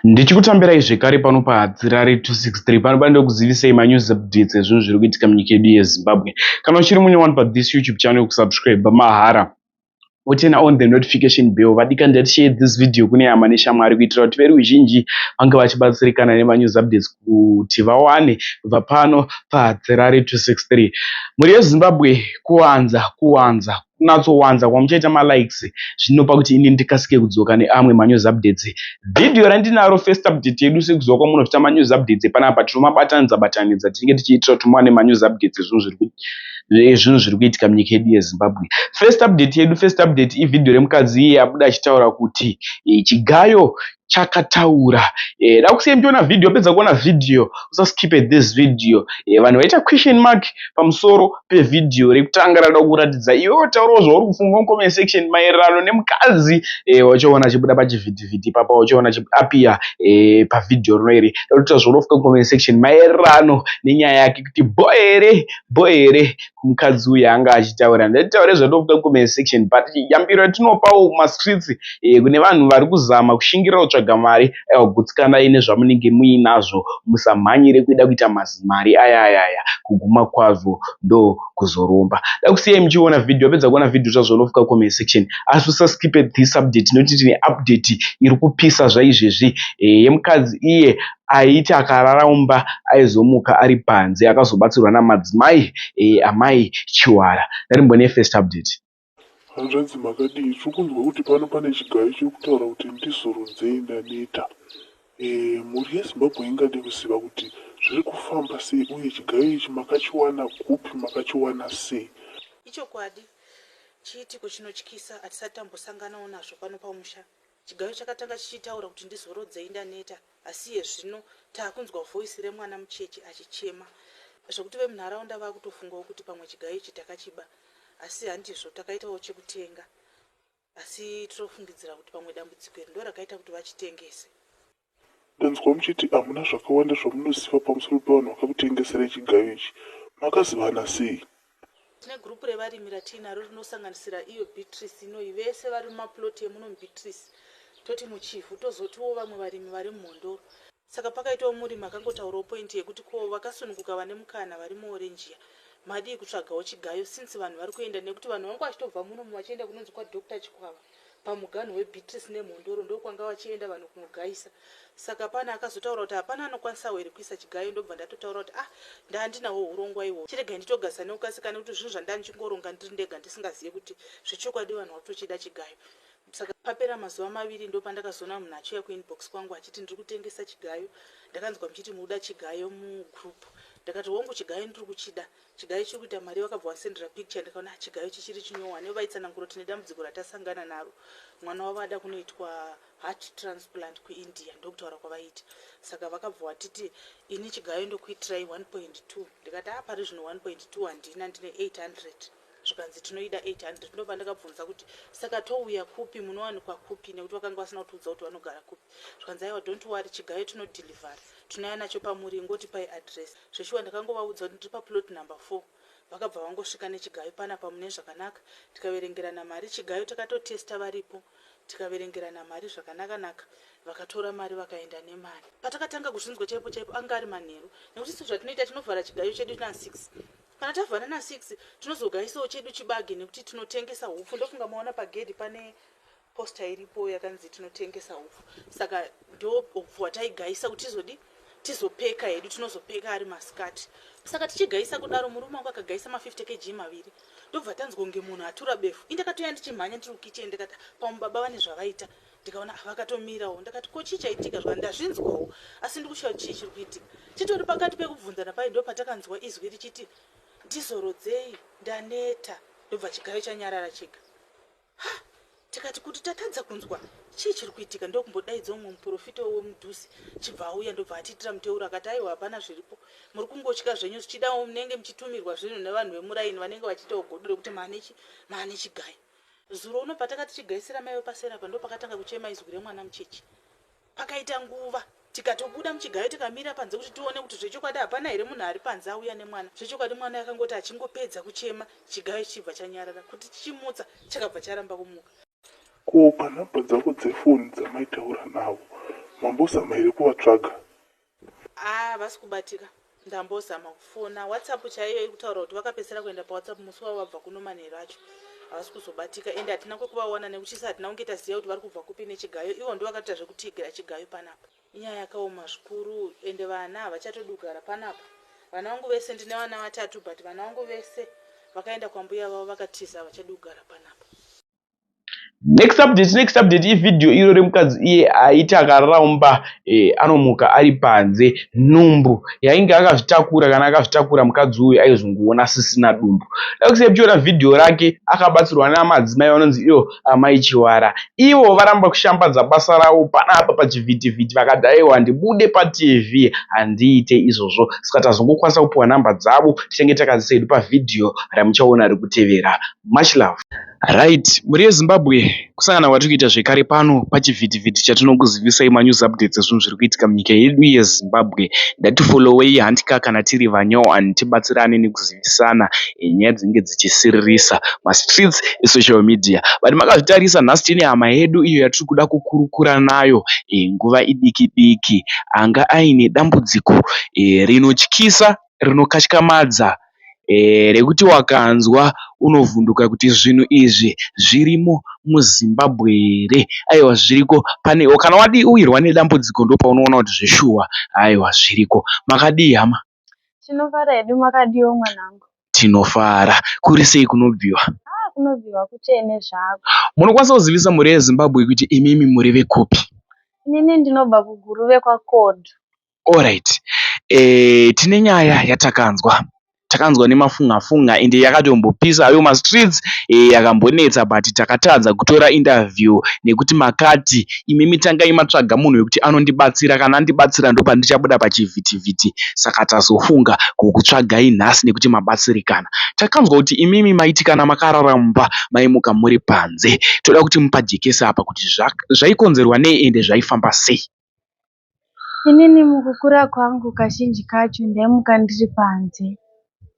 Ndichikutambirai zvekare pano paHadzirare 263 pano pano ndokuzivisei manews updates ezvinhu zviri kuitika munyika yedu yeZimbabwe. Kana uchiri mune one pa this YouTube channel kusubscribe mahara woturn on the notification bell vadika ndati share this video kune hama neshamwari kuitira kuti veruzhinji vange vachibatsirikana nemanews updates kuti vawane kubva pano paHadzirare 263 mhuri yeZimbabwe kuwanza kuwanza kunatsowanza kwamuchaita malikes zvinopa kuti ini ndikasike kudzoka neamwe manews updates video randinaro first update yedu sekuziva kwamunoita manews updates panapa tinomabatanidza batanidza tinenge tichiitira kuti muwane manews updates zvinhu zviri zvinhu zviri kuitika munyika yedu yezimbabwe first update yedu first update ivideo remukadzi iye abuda achitaura kuti eh, chigayo chakataura eh, dakusiyai muchiona video apedza kuona video usaskipe this video eh, vanhu vaita question mark pamusoro pevideo rekutanga rada kuratidza iwe wataurawo zvauri kufunga mucomment section maererano nemukadzi eh, wachaona achibuda pachivhitivhiti ipapa wachaona achiapia eh, pavideo rino iri rinoita zvaunofunga mucomment section maererano nenyaya yake kuti boy here boy here mukadzi uyu anga achitaura ndatitaure zvatofika comment section but yambiro yatinopawo kumastreets eh, kune vanhu vari kuzama kushingirira kutsvaga mari aiwa gutsikanai nezvamunenge muinazvo musamhanyire kuida kuita mazimari aya aya aya kuguma kwazvo ndo kuzoromba dakusiyai muchiona video apedza kuona video zvazvonofika comment section asi usaskipe this update nokuti tine update iri kupisa zvaizvezvi eh, yemukadzi iye aiti akarara mumba aizomuka ari panze akazobatsirwa namadzimai amai Chiwara. Ndarimbone first update. Hanzvadzi makadii tiri kunzwa kuti pano pane chigayo chiri kutaura kuti ndizorudzei ndaneta. Eeh mhuri yeZimbabwe ingade kuziva kuti zviri kufamba sei uye chigayo ichi makachiwana kupi makachiwana sei. Ichokwadi chiitiko chinotyisa hatisati tambosanganawo nazvo pano pamusha. Chigayo chakatanga chichitaura kuti ndizorodzei ndaneta asi iye zvino takunzwa voice remwana mucheche achichema zvekuti vemunharaunda vakutofungawo kuti pamwe chigayo ichi takachiba asi handizvo takaitawo chekutenga asi tinofungidzira kuti pamwe dambudziko iri ndorakaita kuti vachitengese. Ndanzwa muchiti hamuna zvakawanda zvamunoziva pamusoro pevanhu vakakutengeserai chigayo ichi. Makazivana sei? Tine gurupu revarimi ratiinaro rinosanganisira iyo Beatrice inoyi, vese vari mumapuloti emuno muBeatrice, toti muChivhu, tozotiwo vamwe varimi vari muMhondoro. Saka pakaitawo murimi akangotaurawo point yekuti ko vakasununguka vane mukana vari muOrangia madii kutsvagawo chigayo since vanhu vari kuenda nekuti vanhu vangu vachitobva munomu vachienda kunonzi kwaDoctor Chikwava. pamuganhu weBeatrice neMhondoro ndokwanga vachienda vanhu kunogaisa saka pane akazotaura kuti hapana anokwanisawo here kuisa chigayo ndobva ndatotaura kuti ah ndaandinawo hurongwa ihwohwo chiregai nditogasa nekukasika nekuti zvinhu zvandanga ndichingoronga ndiri ndega ndisingazive kuti zvechokwadi vanhu vatochida chigayo saka papera mazuva maviri ndopandakazoona munhu achiuya kuinbox kwangu achiti ndiri kutengesa chigayo ndakanzwa muchiti muda chigayo mugroup ndakati hongu chigayo ndiri kuchida Chigayo chiri kuita mari wakabva wasendera picture ndikaona ah, chigayo chichiri chinyowa nevo vaitsanangura kuti nedambudziko ratasangana naro mwana wavo ada kunoitwa heart transplant kuindia ndokutaura kwavaita saka vakabva watiti ini chigayo ndokuitirai 1.2 ndikati ah pari zvino 1.2 handina ndine 800 zvikanzi tinoida 800 ndobva ndakabvunza kuti saka touya kupi munowanikwa kupi nekuti vakanga vasina kutiudza kuti vanogara kupi zvikanzi aiwa don't worry chigayo tinodhilivhara tinouya nacho pamuri ingoti pai adress Zveshuwa ndakangovaudza kuti ndiri paplot number four vakabva vangosvika nechigayo panapa mune zvakanaka tikaverengerana mari chigayo takatotester varipo tikaverengerana mari zvakanaka naka vakatora mari vakaenda nemari. Patakatanga kuzvinzwa chaipo chaipo anga ari manheru nekuti sezvatinoita tinovhara chigayo chedu na six kana tavhara na six tinozogaisawo chedu chibage nekuti tinotengesa hupfu ndofunga maona pagedhi pane Poster iripo yakanzi tinotengesa hupfu saka ndo hupfu hwataigaisa kuti tizodi tizopeka hedu tinozopeka ari masikati saka tichigaisa kudaro murume wangu akagaisa ma 50 kg maviri ndobva tanzwa kunge munhu atura befu indakatoya ndichimhanya ndiri kukichen ndikati pamwe baba vane zvavaita ndikaona ah, vakatomirawo ndakati ko chii chaitika zvaka ndazvinzwawo asi ndikushaya chii chiri kuitika chitori pakati pekubvunzana pai ndo patakanzwa izwi richiti ndizorodzei ndaneta ndobva chigayo chanyarara chega tikati kuti tatadza kunzwa chii chiri kuitika ndokumbodaidza umwe muprofita wemudhusi chibva auya ndobva atiitira muteuro akati aiwa hapana zviripo muri kungotya zvenyu zvichidawo munenge muchitumirwa zvinhu nevanhu vemuraini vanenge vachiitawo godo rekuti maanechi maane chigayi zuro uno patakati chigaisira maiwe pasera pa ndopakatanga kuchema izwi remwana mucheche Pakaita nguva tikatobuda muchigayo tikamira panze kuti tione kuti zvechokwadi hapana here munhu ari panze auya nemwana. Zvechokwadi mwana akangoti achingopedza kuchema chigayo chichibva chanyarara. Kuti tichimutsa chakabva charamba kumuka. Ko panhamba dzavo dzefoni dzamaitaura navo mambosa ma here kuvatsvaga? Haa havasi kubatika ndambozama kufona whatsapp chaiyo ikutaura kuti vakapedzisira kuenda pawhatsapp musi wavo vabva kuno manheru acho havasi kuzobatika ende hatina kwekuvawana nekuchisa hatina kunge taziva kuti vari kubva kupi nechigayo ivo ndo vakatoita zvekutiigira chigayo panapa inyaya yakaoma zvikuru ende vana havachatodugara panapa vana vangu vese ndine vana vatatu but vana vangu vese vakaenda kwambuya vavo vakatiza havachadugara panapa next update next update ivideo iro remukadzi iye aiti akaramba eh, anomuka ari panze nhumbu yainge akazvitakura kana akazvitakura mukadzi uyu aizongoona sisina dumbu dakusepiona vhidhiyo rake akabatsirwa namadzimai vanonzi iyo amai chiwara ivo varamba kushambadza basa ravo panapa pachivhitivhiti vakadaiwa ndibude patv handiite izvozvo saka tazongokwanisa kupiwa nhamba dzavo tichenge takadzisedu pavhidhiyo ramuchaona rikutevera much love Right, mhuri yeZimbabwe, kusangana kwatiri kuita zvekare pano pachivhitivhiti chatinokuzivisai manews updates ezvinhu zviri kuitika munyika yedu yeZimbabwe. Ngatifollowei handika kana tiri vanyowani tibatsirane nekuzivisana nyaya dzinenge dzichisiririsa mastreets esocial media. But makazvitarisa nhasi tine hama yedu iyo yatiri kuda kukurukura nayo e, nguva idiki diki anga aine dambudziko e, rinotyisa rinokatyamadza rekuti wakanzwa unovhunduka kuti zvinhu izvi zvirimo muZimbabwe here aiwa zviriko panewe kana wawirwa nedambudziko ndopaunoona kuti zveshuwa aiwa zviriko. Makadii hama? Tinofara hedu makadiwo mwanangu? Tinofara. Kuri sei kunobviwa? Haa kunobviwa kutsvene zvako. Munokwanisa kuzivisa mhuri yeZimbabwe kuti imimi muri vekupi? Inini ndinobva kuGuruve kwaKodo. Alright eh tine nyaya yatakanzwa takanzwa nemafunga funga ende yakatombopisa hayo mastreets eh yakambonetsa but takatadza kutora interview nekuti makati imimi tangai matsvaga munhu wekuti anondibatsira kana andibatsira ndopandichabuda pachivhiti vhiti saka tazofunga kukutsvagai nhasi nekuti mabatsirikana takanzwa kuti imimi maiti kana makarara mumba maimuka muri panze toda kuti mupajekesa apa kuti zvaikonzerwa nei ende zvaifamba sei Inini mukukura kwangu kazhinji kacho ndaimuka ndiri panze.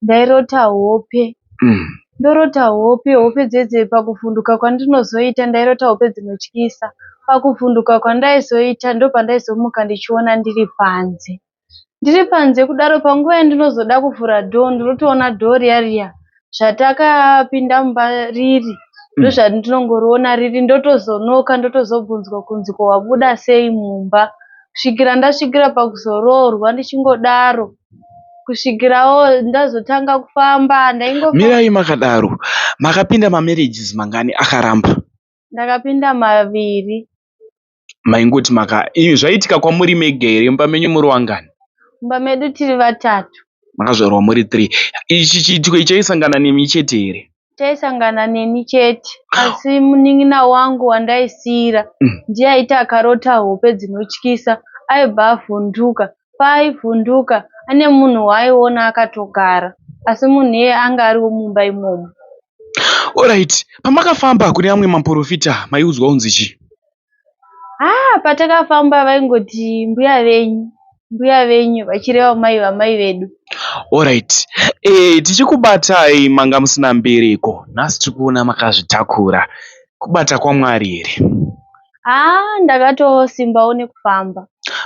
Ndairota hope. Mm. Ndorota hope, hope dzedze pakuvhunduka kwandinozoita ndairota hope dzinotyisa. Pakuvhunduka kwandaizoita ndopandaizomuka ndichiona ndiri panze. Ndiri panze kudaro panguva yandinozoda kuvhura door ndinotoona door riya riya zvatakapinda mumba riri mm. ndozvatinongoriona riri ndotozonoka ndotozobvunzwa kunzi ko wabuda sei mumba kusvikira ndasvikira pakuzoroorwa ndichingodaro kusvikirawo ndazotanga kufamba ndaingomirai makadaro makapinda mamarriages mangani akaramba ndakapinda maviri maingoti maka imi zvaiitika kwamuri mega here mumba menyu muri wangani mumba medu tiri vatatu makazvarwa muri three ichi chiitiko ichi chaisangana nemi chete here chaisangana neni chete asi munin'ina wangu wandaisiira mm. ndiye aiti akarota hope dzinotyisa aibva avhunduka paaivhunduka ane munhu waaiona akatogara asi munhu iyeye anga ariwo mumba imomo. Orait pamakafamba kune amwe maporofita maiudzwa kunzi chii? Haa ah, patakafamba vaingoti mbuya venyu mbuya venyu vachireva mai vamai vedu. Orait e, eh, tichikubatai manga musina mbereko nhasi tiri kuona makazvitakura kubata kwamwari here? Haa ndakatosimbawo nekufamba.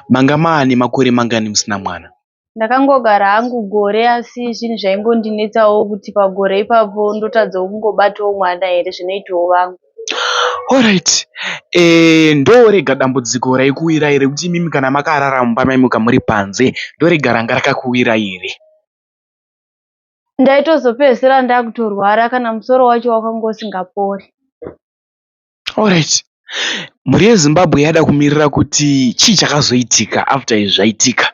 Manga maane makore mangani musina mwana? Ndakangogara hangu gore asi zvinhu zvaingondinetsawo kuti pagore ipapo ndotadzawo kungobatawo mwana here zvinoitawo vangu. Alright. Eh, ndorega dambudziko raikuwirai rekuti imimi kana makarara mumba maimuka muri panze ndorega ranga rakakuwirai here? Ndaitozopedzisira ndakutorwara kana musoro wacho wakanga usingapori. Alright mhuri yeZimbabwe yada kumirira kuti chii chakazoitika after izvi zvaitika.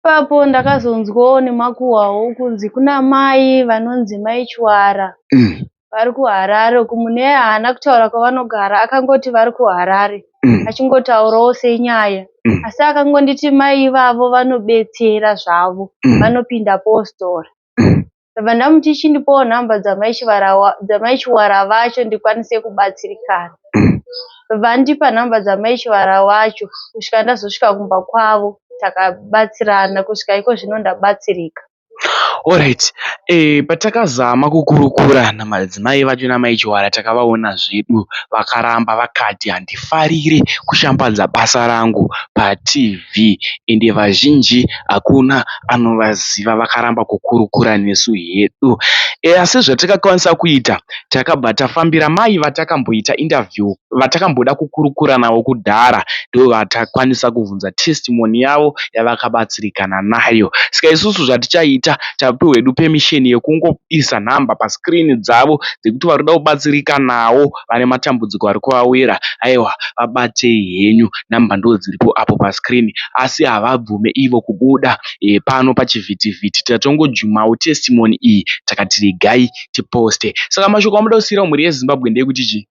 Ipapo ndakazonzwawo nemakuhwawo kunzi kuna mai vanonzi mai Chwara mm. vari kuHarare uku mune haana kutaura kwavanogara akangoti vari kuHarare mm. achingotaurawo senyaya mm. asi akangonditi mai ivavo vanobetsera zvavo mm. vanopinda postora mm. ndabva ndamuti chindipowo nhamba dzamai chivara vacho ndikwanise kubatsirikana ndabva andipa nhamba dzamai chivara wacho kusvika ndazosvika kumba kwavo takabatsirana kusvika iko zvino ndabatsirika Alright, eh, patakazama kukurukura namadzimai vacho namai Chiwara takavaona zvedu vakaramba vakati handifarire kushambadza basa rangu paTV. TV ende vazhinji hakuna anovaziva vakaramba kukurukura nesu hedu asi zvatakakwanisa kuita takabva tafambira mai vatakamboita interview vatakamboda kukurukura navo kudhara ndovatakwanisa kubvunza testimony yavo yavakabatsirikana nayo ska isusu zvatichaita tapiwa hedu permission yekungoisa number pascreen dzavo dzekuti vari kuda kubatsirikanawo vane matambudziko ari kuvawira aiwa vabatei henyu number ndodziripo apo pa screen asi havabvume ivo kubuda pano pachivhitivhiti tatongojumawo testimony iyi takati regai ti poste saka mashoko amuda kusiirawo mhuri yezimbabwe ndeekuti chii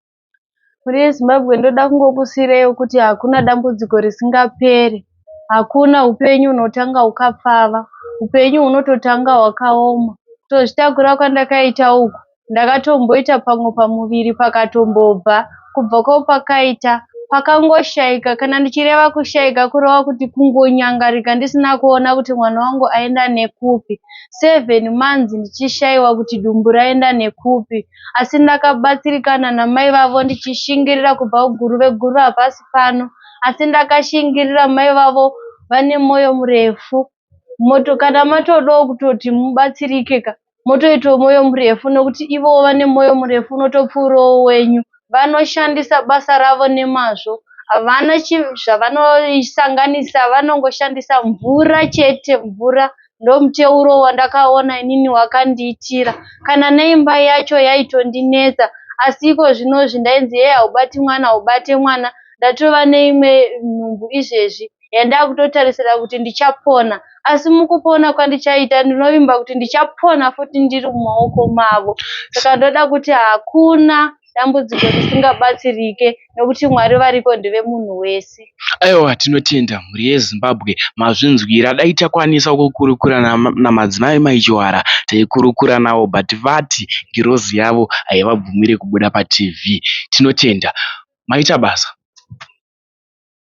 mhuri yezimbabwe ndoda kungokusiireyo kuti hakuna dambudziko risingaperi hakuna upenyu hunotanga hukapfava upenyu hunototanga hwakaoma tozvitakura kwandakaita uku ndakatomboita pamwe pamuviri pakatombobva kubva kwapakaita pakangoshaika kana ndichireva kushaika kureva kuti kungonyangarika ndisina kuona kuti mwana wangu aenda nekupi seven months ndichishaiwa kuti dumbu raenda nekupi asi ndakabatsirikana namai vavo ndichishingirira kubva kuguru veguru hapasi pano asi ndakashingirira mai vavo vane mwoyo murefu moto kana matodawo kutoti mubatsirike ka motoitawo mwoyo murefu nokuti ivowo vane mwoyo murefu unotopfuurawo wenyu vanoshandisa basa ravo nemazvo havana zvavanosanganisa vanongoshandisa mvura chete mvura ndomuteuro wandakaona inini wakandiitira kana neimba yacho yaitondinetsa asi iko zvinozvi ndainzi yeye haubati mwana haubate mwana ndatova neimwe nhumbu izvezvi yandakutotarisira kuti ndichapona asi mukupona kwandichaita ndinovimba kuti ndichapona futi ndiri mumaoko mavo saka ndoda kuti hakuna dambudziko risingabatsirike nokuti mwari variko ndevemunhu wese aiwa tinotenda mhuri yezimbabwe mazvinzwira dai takwanisa kukurukura namadzimai maichiwara taikurukura navo but vati ngirozi yavo haivabvumire kubuda patv tinotenda maita basa